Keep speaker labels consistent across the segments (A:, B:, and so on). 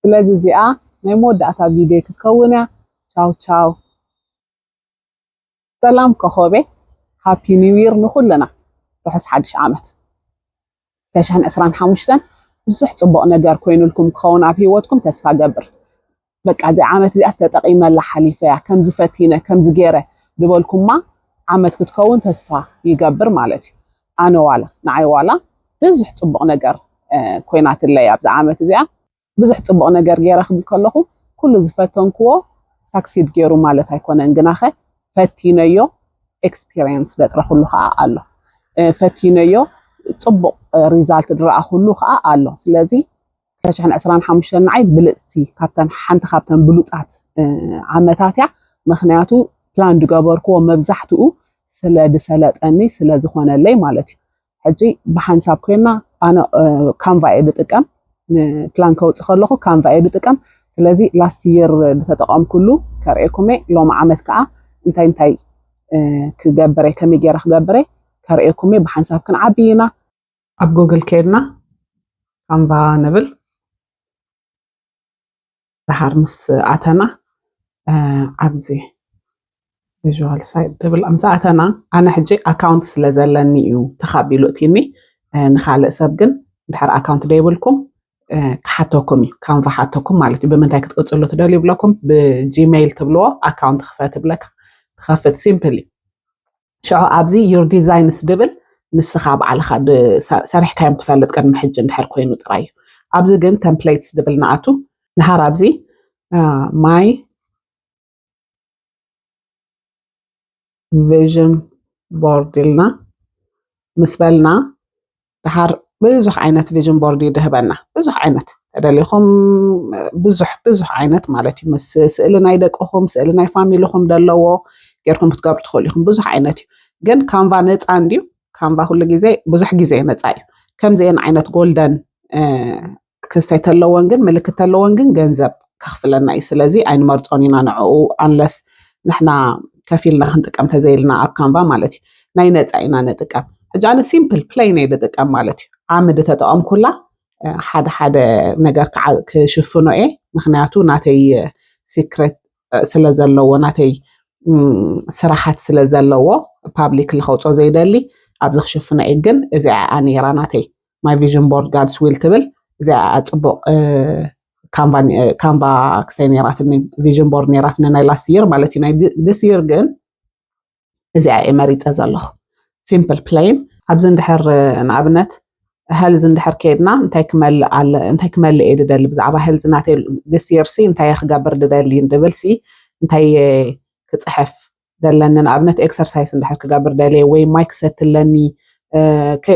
A: ስለዚ እዚኣ ናይ መወዳእታ ቪድዮ ክትከውን እያ ቻው ቻው ሰላም ኮኾቤ ሃፒ ኒው ይር ንኹልና ርሑስ ሓድሽ ዓመት 2025 ብዙሕ ፅቡቕ ነገር ኮይኑልኩም ክኸውን ኣብ ሂወትኩም ተስፋ ገብር በቃ እዚ ዓመት እዚኣ ዝተጠቒመላ ሓሊፈያ ከምዚ ፈቲነ ከምዚ ገይረ ዝበልኩማ ዓመት ክትከውን ተስፋ ይገብር ማለት እዩ ኣነ ዋላ ንዓይ ዋላ ብዙሕ ጽቡቕ ነገር ኮይናትለይ ኣብዛ ዓመት እዚኣ ብዙሕ ጽቡቕ ነገር ገይረ ክብል ከለኹ ኩሉ ዝፈተንክዎ ሳክሲድ ገይሩ ማለት ኣይኮነን ግናኸ ፈቲነዮ ኤክስፒሪየንስ ዘጥረኽሉ ከዓ ኣሎ ፈቲነዮ ጽቡቕ ሪዛልት ድረኣኽሉ ከዓ ኣሎ ስለዚ ፍረሽሕን ዕስራን ሓሙሽተን ንዓይ ብልፅቲ ካብተን ሓንቲ ካብተን ብሉፃት ዓመታት እያ ምክንያቱ ፕላን ዝገበርክዎ መብዛሕትኡ ስለ ዝሰለጠኒ ስለ ዝኾነለይ ማለት እዩ ሕጂ ብሓንሳብ ኮይና ኣነ ካንቫ እየ ዝጥቀም ፕላን ከውፅእ ከለኹ ካንቫ እየ ዝጥቀም ስለዚ ላስት ይር ዝተጠቐምኩሉ ከርእየኩም እየ ሎሚ ዓመት ከዓ እንታይ እንታይ ክገብረ ከመይ ገይረ ክገብረ ከርእየኩም እየ ብሓንሳብ ክንዓቢ ኢና ኣብ ጎግል ከይድና ካንቫ ንብል ድሓር ምስ ኣተና ኣብዚ ቪዥዋል ሳይት ድብል ምስ ኣተና ኣነ ሕጂ ኣካውንት ስለ ዘለኒ እዩ ተኻቢሉ እቲኒ ንካልእ ሰብ ግን ድሓር ኣካውንት ደይብልኩም ክሓተኩም እዩ ካንቫ ሓተኩም ማለት እዩ ብምንታይ ክትቅፅሉ ትደልዩ ይብለኩም ብጂሜይል ትብልዎ ኣካውንት ክፈት ብለካ ትኸፍት ሲምፕል እዩ ሽዑ ኣብዚ ዩር ዲዛይንስ ድብል ንስኻ ባዕልኻ ሰሪሕካዮም ትፈልጥ ቅድሚ ሕጂ እንድሕር ኮይኑ ጥራይ እዩ ኣብዚ ግን ተምፕሌትስ ድብል ንኣቱ ድሃር ኣብዚ ማይ ቪዥን ቦርድ ኢልና ምስ በልና ደሓር ብዙሕ ዓይነት ቪዥን ቦርድ እዩ ድህበና ብዙሕ ዓይነት ተደሊኹም ብዙሕ ብዙሕ ዓይነት ማለት እዩ ምስ ስእሊ ናይ ደቅኹም ስእሊ ናይ ፋሚልኹም ዘለዎ ጌርኩም ክትገብሩ ትኽእሉ ኢኹም ብዙሕ ዓይነት እዩ ግን ካንቫ ነፃ እንድዩ ካንቫ ኩሉ ግዜ ብዙሕ ግዜ ነፃ እዩ ከምዚአን ዓይነት ጎልደን ክስተይ ተለወን ግን ምልክት ተለወን ግን ገንዘብ ከኽፍለና እዩ ስለዚ ኣይንመርፆን ኢና ንዕኡ ኣንለስ ንሕና ከፊልና ክንጥቀም ተዘይልና ኣብ ካንቫ ማለት እዩ ናይ ነፃ ኢና ንጥቀም ሕጂ ኣነ ሲምፕል ፕሌይን እየ ዝጥቀም ማለት እዩ ዓምዲ ተጠቐምኩላ ሓደ ሓደ ነገር ክሽፍኖ እየ ምክንያቱ ናተይ ሲክሬት ስለ ዘለዎ ናተይ ስራሓት ስለ ዘለዎ ፓብሊክ ልከውፆ ዘይደሊ ኣብዚ ክሽፍኖ እየ ግን እዚኣ ነይራ ናተይ ማይ ቪዥን ቦርድ ጋድስ ዊል ትብል እዚኣ ፅቡቅ ካንቫ ክሰይ ነይራትኒ ቪዥን ቦርድ ነይራትኒ ናይ ላስት ይር ማለት እዩ ናይ ድስ ይር ግን እዚኣ እየ መሪፀ ዘለኹ ሲምፕል ፕሌን ኣብዚ እንድሕር ንኣብነት ሀልዝ እንድሕር ከይድና እንታይ ክመልእ ኣለ እንታይ ክመልእ እየ ድደሊ ብዛዕባ ሀልዝ ናተይ ድስ ይርሲ እንታይ ክገብር ድደሊ ድብልሲ እንታይ ክፅሕፍ ደለኒ ንኣብነት ኤክሰርሳይስ እንድሕር ክገብር ደልየ ወይ ማይ ክሰቲ ኣለኒ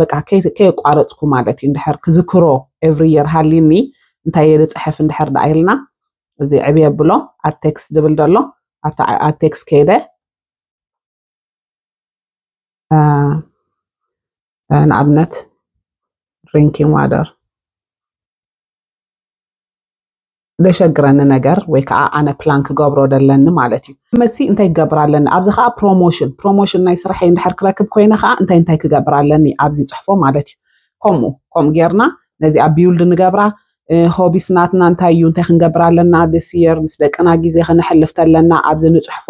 A: በቃ ከየቋረፅኩ ማለት እዩ እንድሕር ክዝክሮ ኤቭሪ የር ሃሊኒ እንታይ እየ ዝፅሕፍ እንድሕር ደኣ ኢልና እዚ ዕብ የብሎ ኣቴክስ ዝብል ደሎ ኣብቲ ኣቴክስ ከይደ ንኣብነት ድሪንኪንግ ዋደር ደሸግረኒ ነገር ወይ ከዓ ኣነ ፕላን ክገብሮ ደለኒ ማለት እዩ መሲ እንታይ ክገብር ኣለኒ ኣብዚ ከዓ ፕሮሞሽን ፕሮሞሽን ናይ ስራሐይ እንድሕር ክረክብ ኮይነ ከዓ እንታይ እንታይ ክገብር ኣለኒ ኣብዚ ፅሕፎ ማለት እዩ ከምኡ ከምኡ ጌርና ነዚኣ ቢውልድ ንገብራ ሆቢስ ናትና እንታይ እዩ እንታይ ክንገብር ኣለና ስ የር ምስ ደቅና ግዜ ክነሕልፍ ተለና ኣብዚ ንፅሕፎ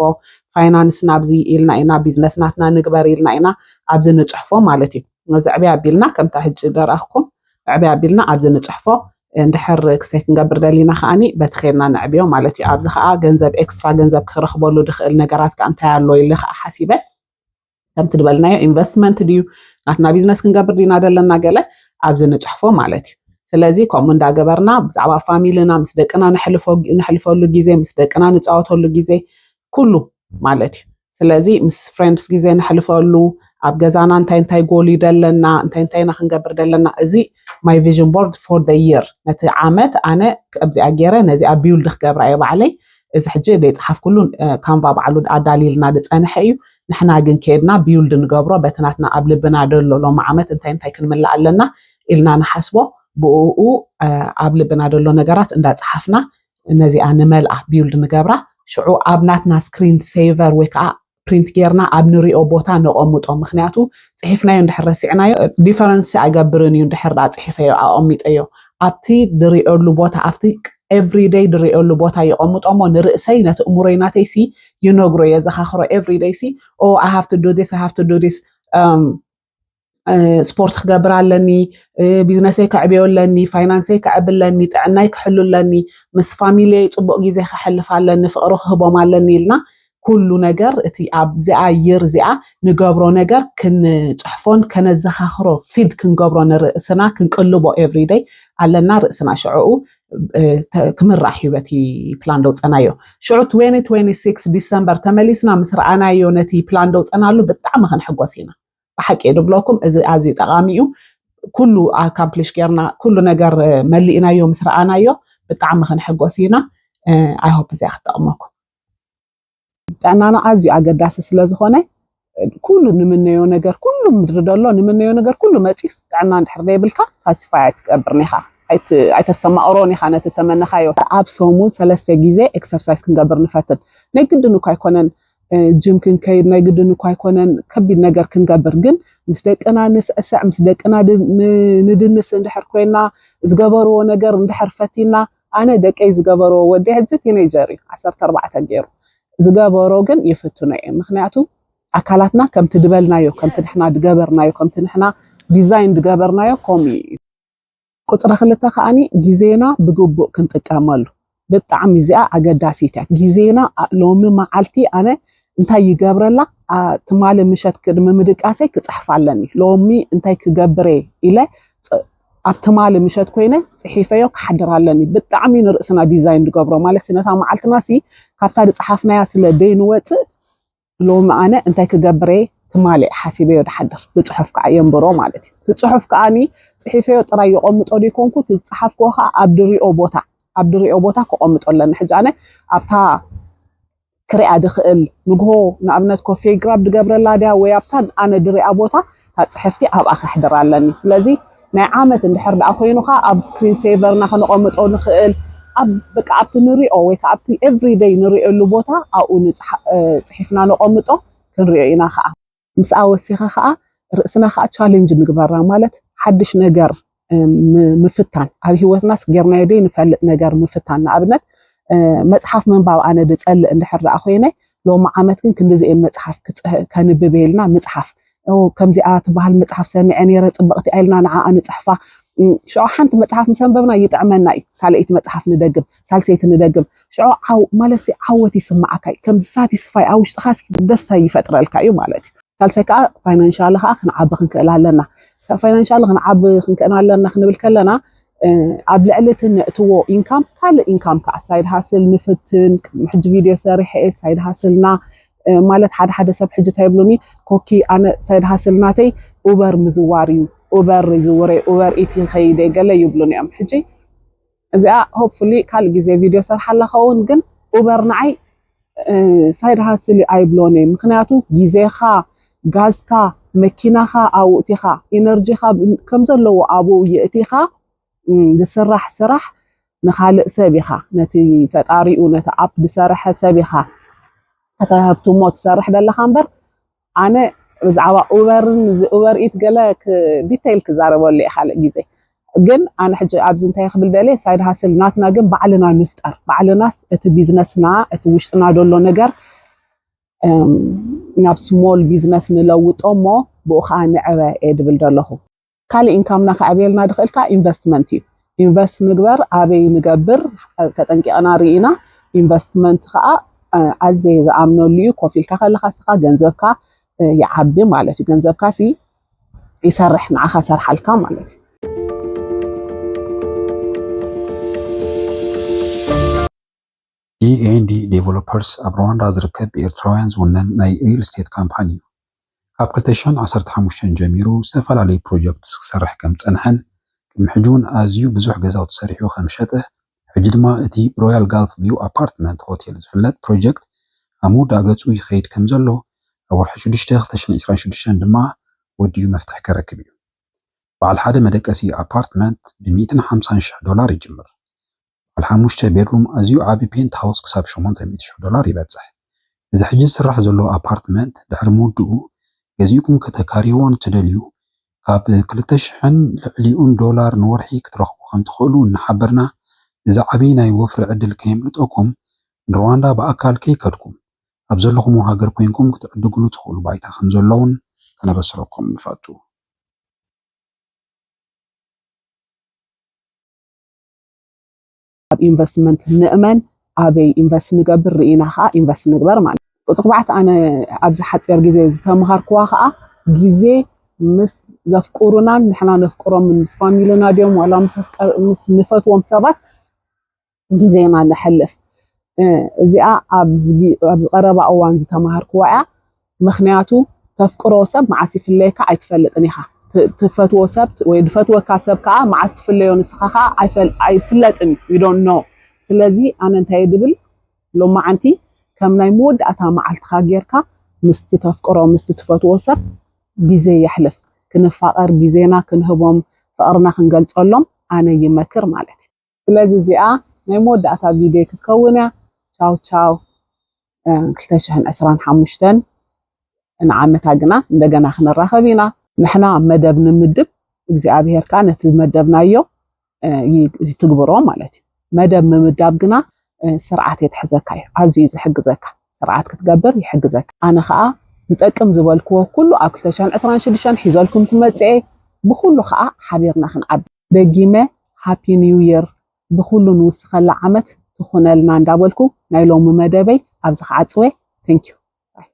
A: ፋይናንስ ናብዚ ኢልና ኢና ቢዝነስ ናትና ንግበር ኢልና ኢና ኣብዚ ንፅሕፎ ማለት እዩ እዚ ዕብያ ኣቢልና ከምታ ሕጂ ደራኽኩም ዕበይ ኣቢልና ኣብዚ ንጽሕፎ። እንድሕር ክሰይ ክንገብር ደሊና ከኣኒ በቲ ኬድና ነዕብዮ ማለት እዩ። ኣብዚ ከኣ ገንዘብ ኤክስትራ ገንዘብ ክረኽበሉ ድኽእል ነገራት ከኣ እንታይ ኣሎ ኢለ ከኣ ሓሲበ። ከምቲ ድበልናዮ ኢንቨስትመንት ድዩ ናትና ቢዝነስ ክንገብር ዲና ደለና ገለ ኣብዚ ንጽሕፎ ማለት እዩ። ስለዚ ከምኡ እንዳገበርና ብዛዕባ ፋሚልና ምስ ደቅና ነሕልፎ ነሕልፈሉ ግዜ ምስ ደቅና ንጻወተሉ ግዜ ኩሉ ማለት እዩ። ስለዚ ምስ ፍሬንድስ ግዜ ነሕልፈሉ ኣብ ገዛና እንታይ እንታይ ጎል እዩ ደለና እንታይ እንታይ ኢና ክንገብር ደለና እዚ ማይ ቪዥን ቦርድ ፎር ደ ይር ነቲ ዓመት ኣነ ከምዚኣ ገይረ ነዚኣ ቢውልድ ክገብራ እየ ባዕለይ እዚ ሕጂ ደይፀሓፍኩሉ ካንቫ ባዕሉ ኣዳልይልና ዝፀንሐ እዩ ንሕና ግን ከይድና ቢውልድ ንገብሮ በቲ ናትና ኣብ ልብና ደሎ ሎሚ ዓመት እንታይ እንታይ ክንምላእ ኣለና ኢልና ንሓስቦ ብኡ ኣብ ልብና ደሎ ነገራት እንዳፀሓፍና ነዚኣ ንመልኣ ቢውልድ ንገብራ ሽዑ ኣብ ናትና ስክሪን ሴቨር ወይ ከዓ ፕሪንት ጌርና ኣብ ንሪኦ ቦታ ነቐምጦ ምክንያቱ ፅሒፍናዮ እንድሕር ረሲዕናዮ ዲፈረንስ ኣይገብርን እዩ እንድሕር ዳኣ ፅሒፈዮ ኣቐሚጠዮ ኣብቲ ድሪኦሉ ቦታ ኣብቲ ኤቭሪደይ ድሪኦሉ ቦታ ይቐምጦ እሞ ንርእሰይ ነቲ እሙሮይ ናተይ ሲ ይነግሮ የዘኻኽሮ ኤቭሪደይ ሲ ኦ ኣይ ሃቭ ቱ ዱ ዲስ ኣይ ሃቭ ቱ ዱ ዲስ ስፖርት ክገብር ኣለኒ፣ ቢዝነሰይ ከዕብዮ ኣለኒ፣ ፋይናንሰይ ከዕቢ ኣለኒ፣ ጥዕናይ ክሕሉ ኣለኒ፣ ምስ ፋሚልየይ ፅቡቕ ግዜ ከሕልፍ ኣለኒ፣ ፍቕሪ ክህቦም ኣለኒ ኢልና ኩሉ ነገር እቲ ኣብዚኣ ይር እዚኣ ንገብሮ ነገር ክንፅሕፎን ከነዘኻኽሮ ፊድ ክንገብሮ ንርእስና ክንቅልቦ ኤቭሪደይ ኣለና ርእስና ሽዕኡ ክምራሕ እዩ በቲ ፕላን ደውፀናዮ ሽዑ 2026 ዲሰምበር ተመሊስና ምስ ረኣናዮ ነቲ ፕላን ደውፀናሉ ብጣዕሚ ክንሕጎስ ኢና ብሓቂ እዩ ድብለኩም እዚ ኣዝዩ ጠቓሚ እዩ ኩሉ ኣካምፕሊሽ ጌርና ኩሉ ነገር መሊእናዮ ምስ ረኣናዮ ብጣዕሚ ክንሕጎስ ኢና ኣይሆፕ እዚኣ ክትጠቕመኩም ጥዕናና ኣዝዩ ኣገዳሲ ስለዝኾነ ኩሉ ንምነዮ ነገር ኩሉ ምድሪ ደሎ ንምነዮ ነገር ኩሉ መፅዩስ ጥዕና እንድሕር ዘይብልካ ሳቲስፋይ ኣይትገብርን ኢኻ ኣይተስተማቕሮን ኢኻ ነቲ ተመነኻዮ ኣብ ሰሙን ሰለስተ ግዜ ኤክሰርሳይዝ ክንገብር ንፈትን ናይ ግድን እኳ ኣይኮነን ጅም ክንከይድ ናይ ግድን እኳ ኣይኮነን ከቢድ ነገር ክንገብር ግን ምስ ደቅና ንስዕስዕ ምስ ደቅና ንድንስ እንድሕር ኮይና ዝገበርዎ ነገር እንድሕር ፈቲና ኣነ ደቀይ ዝገበርዎ ወደይ ሕጂ ቲነይጀር እዩ ዓሰርተ ኣርባዕተ ገይሩ ዝገበሮ ግን ይፍትኖ እየ ምክንያቱ ኣካላትና ከምቲ ድበልናዮ ከምቲ ንሕና ድገበርናዮ ከምቲ ንሕና ዲዛይን ድገበርናዮ ከምኡ እዩ ቁፅሪ ክልተ ከዓኒ ግዜና ብግቡእ ክንጥቀመሉ ብጣዕሚ እዚኣ ኣገዳሲት እያ ግዜና ሎሚ መዓልቲ ኣነ እንታይ ይገብረላ ትማሊ ምሸት ቅድሚ ምድቃሰይ ክፅሕፍ ኣለኒ ሎሚ እንታይ ክገብረ ኢለ ኣብ ትማሊ ምሸት ኮይነ ጽሒፈዮ ክሓድር ኣለኒ ብጣዕሚ ንርእስና ዲዛይን ንገብሮ ማለት ነታ መዓልትና ሲ ካብታ ዝጸሓፍናያ ስለ ደይንወጽእ ሎሚ ኣነ እንታይ ክገብር እየ ትማሊ ሓሲበዮ ድሓድር ብጽሑፍ ከዓ የንብሮ ማለት እዩ እቲ ጽሑፍ ከዓኒ ጽሒፈዮ ጥራይ የቆምጦ ደይኮንኩ እቲ ዝጸሓፍክዎ ከዓ ኣብ ድሪኦ ቦታ ኣብ ድሪኦ ቦታ ከቆምጦ ኣለኒ ሕጂ ኣነ ኣብታ ክሪኣ ድኽእል ንግሆ ንኣብነት ኮፌ ግራብ ድገብረላ ድያ ወይ ኣብታ ኣነ ድሪኣ ቦታ እታ ጽሕፍቲ ኣብኣ ከሕድራ ኣለኒ ስለዚ ናይ ዓመት እንድሕር ደኣ ኮይኑ ከኣ ኣብ ስክሪን ሴቨርና ከነቐምጦ ንኽእል ኣብ በቃ ኣብቲ ንሪኦ ወይ ከዓ ኣብቲ ኤቭሪደይ ንሪኦሉ ቦታ ኣብኡ ጽሒፍና ነቐምጦ ክንሪኦ ኢና ከዓ ምስኣ ወሲኻ ከዓ ርእስና ከዓ ቻሌንጅ ንግበራ ማለት ሓድሽ ነገር ምፍታን ኣብ ሂወትናስ ጌርናዮ ደይ ንፈልጥ ነገር ምፍታን ንኣብነት መፅሓፍ ምንባብ ኣነ ድፀልእ እንድሕር ደኣ ኮይነ ሎሚ ዓመት ግን ክንዲዚኤን መፅሓፍ ከንብብ ኢልና ምፅሓፍ ከምዚኣ ትበሃል መፅሓፍ ሰሚዐ ነይረ ፅብቕቲ ኢልና ንዓኣ ንፅሕፋ ሽዑ ሓንቲ መፅሓፍ ምስ ኣንበብና ይጥዕመና እዩ ካልኣይቲ መፅሓፍ ንደግም ሳልሰይቲ ንደግም ሽዑ ዓው ማለትሲ ዓወት ይስምዓካ እዩ ከምዚ ሳቲስፋይ ኣብ ውሽጥኻ ደስታ ይፈጥረልካ እዩ ማለት እዩ ሳልሳይ ከዓ ፋይናንሻሊ ከዓ ክንዓቢ ክንክእል ኣለና ፋይናንሻሊ ክንዓቢ ክንክእል ኣለና ክንብል ከለና ኣብ ልዕሊ እቲ ነእትዎ ኢንካም ካልእ ኢንካም ከዓ ሳይድ ሃስል ንፍትን ቅድሚ ሕጂ ቪድዮ ሰሪሐ እየ ሳይድ ሃስልና ማለት ሓደ ሓደ ሰብ ሕጂ እንታይ ይብሉኒ ኮኪ ኣነ ሳይድ ሃስል ናተይ ኡበር ምዝዋር እዩ ኡበር ይዝውረ ኡበር ኢት ይኸይደ ገለ ይብሉኒ እዮም ሕጂ እዚኣ ሆፕፉሊ ካልእ ግዜ ቪድዮ ሰርሓላ ከውን ግን ኡበር ንዓይ ሳይድ ሃስል ኣይብሎን እየ ምክንያቱ ግዜኻ ጋዝካ መኪናኻ ኣውእቲኻ ኢነርጂኻ ከም ዘለዎ ኣብኡ የእቲኻ ዝስራሕ ስራሕ ንኻልእ ሰብ ኢኻ ነቲ ፈጣሪኡ ነቲ ኣፕ ዝሰርሐ ሰብ ኢኻ ተተህብትሞ ትሰርሕ ዘለኻ እምበር ኣነ ብዛዕባ ኡበርን እዚ ኡበር ኢት ገለ ዲቴይል ክዛረበሉ እየ ካልእ ግዜ ግን ኣነ ሕጂ ኣብዚ እንታይ ክብል ደልየ ሳይድ ሃስል ናትና ግን ባዕልና ንፍጠር ባዕልናስ እቲ ቢዝነስና እቲ ውሽጥና ዘሎ ነገር ናብ ስሞል ቢዝነስ ንለውጦ እሞ ብኡ ከዓ ንዕበ እየ ድብል ዘለኹ ካሊእ ኢንካምና ከዕብየልና ድኽእል ከዓ ኢንቨስትመንት እዩ። ኢንቨስት ንግበር ኣበይ ንገብር ተጠንቂቕና ርኢና ኢንቨስትመንት ከዓ ኣዘየ ዝኣምነሉ እዩ። ኮፍ ኢልካ ከለካ ስኻ ገንዘብካ ይዓቢ ማለት እዩ። ገንዘብካ ሲ ይሰርሕ ንዓኻ ሰርሓልካ ማለት እዩ።
B: ዲኤንዲ ዴቨሎፐርስ ኣብ ሩዋንዳ ዝርከብ ብኤርትራውያን ዝውነን ናይ ሪል ስቴት ካምፓኒ እዩ። ካብ ክልተ ሸሕን ዓሰርተ ሓሙሽተን ጀሚሩ ዝተፈላለዩ ፕሮጀክትስ ክሰርሕ ከም ዝጸንሐን ቅድሚ ሕጂ እውን ኣዝዩ ብዙሕ ገዛውቲ ሰሪሑ ከም ዝሸጠ ሕጂ ድማ እቲ ብሮያል ጋልፍ ቪው ኣፓርትመንት ሆቴል ዝፍለጥ ፕሮጀክት ኣብ ምውዳእ ገጹ ይኸይድ ከም ዘሎ ኣብ ወርሒ ሽዱሽተ ክልተ ሽሕን ዕስራን ሽዱሽተን ድማ ወዲኡ መፍትሒ ከረክብ እዩ። በዓል ሓደ መደቀሲ ኣፓርትመንት ብ ሚእትን ሓምሳን ሽሕ ዶላር ይጅምር። ባዓል ሓሙሽተ ቤድሩም ኣዝዩ ዓቢ ፔንት ሃውስ ክሳብ ሸሞንተ ሚእቲ ሽሕ ዶላር ይበጽሕ። እዚ ሕጂ ዝስራሕ ዘሎ ኣፓርትመንት ድሕሪ ምውድኡ ገዚእኩም ከተካርይዎ ንትደልዩ ካብ ክልተ ሽሕን ልዕሊኡን ዶላር ንወርሒ ክትረኽቡ ከምትኽእሉ እናሓበርና እዚ ዓቢ ናይ ወፍሪ ዕድል ከየምልጠኩም ንርዋንዳ ብኣካል ከይከድኩም ኣብ ዘለኹሞ ሃገር ኮይንኩም ክትዕድግሉ ትኽእሉ ባይታ ከምዘሎውን ከነበስረኩም ንፈቱ።
A: ኣብ ኢንቨስትመንት ንእመን ኣበይ ኢንቨስት ንገብር ርኢና ከዓ ኢንቨስት ንግበር ማለት እዩ። ቁፅሪ ኣርባዕተ ኣነ ኣብዚ ሓፂር ግዜ ዝተምሃርክዋ ከዓ ግዜ ምስ ዘፍቅሩናን ንሕና ነፍቅሮምን ምስ ፋሚልና ድዮም ዋላ ምስ ንፈትዎም ሰባት ግዜና ነሕልፍ እዚኣ ኣብዚ ቀረባ እዋን ዝተምሃርክዋ እያ። ምኽንያቱ ተፍቅሮ ሰብ መዓስ ይፍለየካ ኣይትፈልጥን ኢኻ ትፈትዎ ሰብ ወይ ዝፈትወካ ሰብ ከዓ መዓስ ትፍለዮ ንስኻ ከዓ ኣይፍለጥን you don't know ስለዚ ኣነ እንታይ እየ ድብል ሎማዓንቲ ከም ናይ መወዳእታ መዓልትኻ ጌርካ ምስቲ ተፍቅሮ ምስቲ ትፈትዎ ሰብ ግዜ የሕልፍ ክንፋቐር ግዜና ክንህቦም ፍቕርና ክንገልጸሎም ኣነ ይመክር ማለት እዩ። ስለዚ እዚኣ ናይ መወዳእታ ቪድዮ ክትከውን እያ ቻው ቻው 225 ንዓመታ ግና እንደገና ክንራኸብ ኢና ንሕና መደብ ንምድብ እግዚኣብሄር ከዓ ነቲ መደብናዮ ይትግብሮ ማለት እዩ መደብ ምምዳብ ግና ስርዓት የትሕዘካ እዩ ኣዝዩ እዩ ዝሕግዘካ ስርዓት ክትገብር ይሕግዘካ ኣነ ከዓ ዝጠቅም ዝበልክዎ ኩሉ ኣብ 226 ሒዘልኩም ክመፅኤ ብኩሉ ከዓ ሓቢርና ክንዓቢ ደጊመ ሃፒ ኒው ይር ብኩሉ ንውስከላ ዓመት ትኩነልና እንዳበልኩ ናይ ሎሚ መደበይ ኣብዚ ክዓጽዌ Thank you ባይ።